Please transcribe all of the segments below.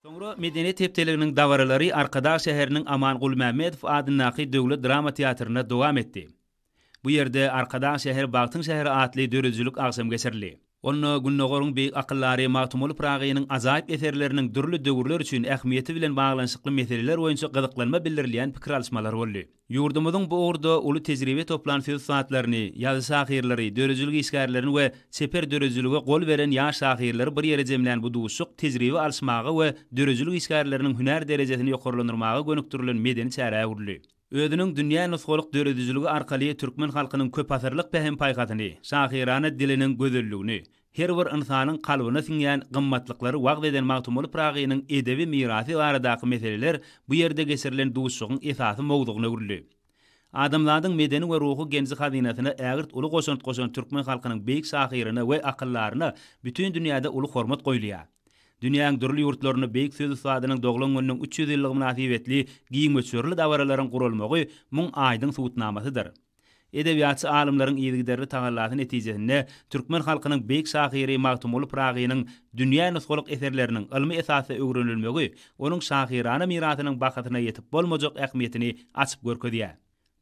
Soňra medeniýet hepdeliginiň dabaralary Arkadag şäheriniň Aman Gulmämmedow adyndaky döwlet drama teatrynda dowam etdi. Bu ýerde Arkadag şäheri bagtyň şäheri atly döredijilik agşamy geçirildi. Onda Gündogaryň beýik akyldary Magtymguly Pyragynyň ajaýyp eserleriniň dürli döwürler üçin ähmiýeti bilen baglanyşykly meseleler boýunça gyzyklanma bildirilýän pikir alyşmalar boldy. Ýurdumyzyň bu ugurda uly tejribe toplan söz ussatlaryny, ýazy şahyrlary, döredijilik işgärlerini we çeper döredijilige gol beren ýaş şahyrlary bir ýere jemlän bu duşuşyk tejribe alyşmaga we döredijilik işgärleriniň hünär derejesini ýokarlandyrmaga gönükdirilen medeni çärä öwrüldi. Özüniň dünýä nusgalyk döredijiligi arkaly türkmen halkynyň köpasyrlyk pähim-paýhasyny, şahyrana diliniň gözelligini, Her bir ynsanyň kalbyna siňýän gymmatlyklary wagyz eden Magtymguly Pyragynyň edebi mirasy baradaky meseleler bu ýerde geçirilen duşuşygyň esasy mowzugyna öwrüldi. Adamzadyň medeni we ruhy genji-hazynasyna ägirt uly goşant goşan türkmen halkynyň beýik şahyryna we akyldaryna bütin dünýäde uly hormat goýulýar. Dünýäň dürli ýurtlarynda beýik söz ussadynyň doglan gününiň üç ýüz ýyllygy mynasybetli giň möçberli dabaralaryň guralmagy muň aýdyň subutnamasydyr. Edebiýatçy alymlaryň yzygiderli tagallasy netijesinde türkmen halkynyň beýik şahyry Magtymguly Pyragynyň dünýä nusgalyk eserleriniň ylmy esasda öwrenilmegi onuň şahyrana mirasynyň bahasyna ýetip bolmajak ähmiýetini açyp görkezýär.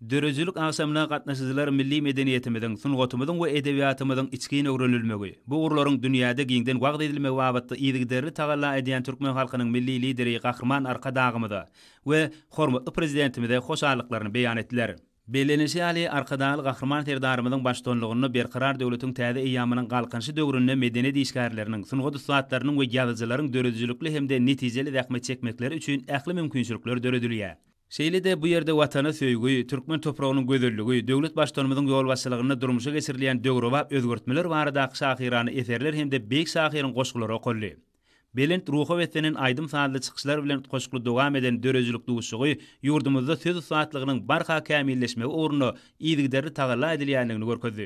Döredijilik agşamyna gatnaşyjylar milli medeniýetimiziň, sungatymyzyň we edebiýatymyzyň içgin öwrenilmegi, bu ugurlaryň dünýäde giňden wagyz edilmegi babatda yzygiderli tagalla edýän türkmen halkynyň Milli Lideri Gahryman Arkadagymyza we hormatly Prezidentimize hoşallyklaryny beýan etdiler. Bellenilişi ýaly, Arkadagly Gahryman Serdarymyzyň baştutanlygynda Berkarar döwletiň täze eýýamynyň Galkynyşy döwründe medeniýet işgärleriniň, sungat ussatlarynyň we ýazyjylaryň döredijilikli hem-de netijeli zähmet çekmekleri üçin ähli mümkinçilikler döredilýär. Şeýle-de bu ýerde Watana söýgi, türkmen topragynyň gözelligi, döwlet Baştutanymyzyň ýolbaşçylygynda durmuşa geçirilýän döwrebap özgertmeler baradaky şahyrana eserler hem-de beýik şahyryň goşgulary okaldy. Belent ruha beslenen aýdym-sazly çykyşlar bilen utgaşykly dowam eden döredijilik duşuşygy ýurdumyzda söz ussatlygynyň barha kämilleşmegi ugrunda yzygiderli tagalla edilýändigini görkezdi.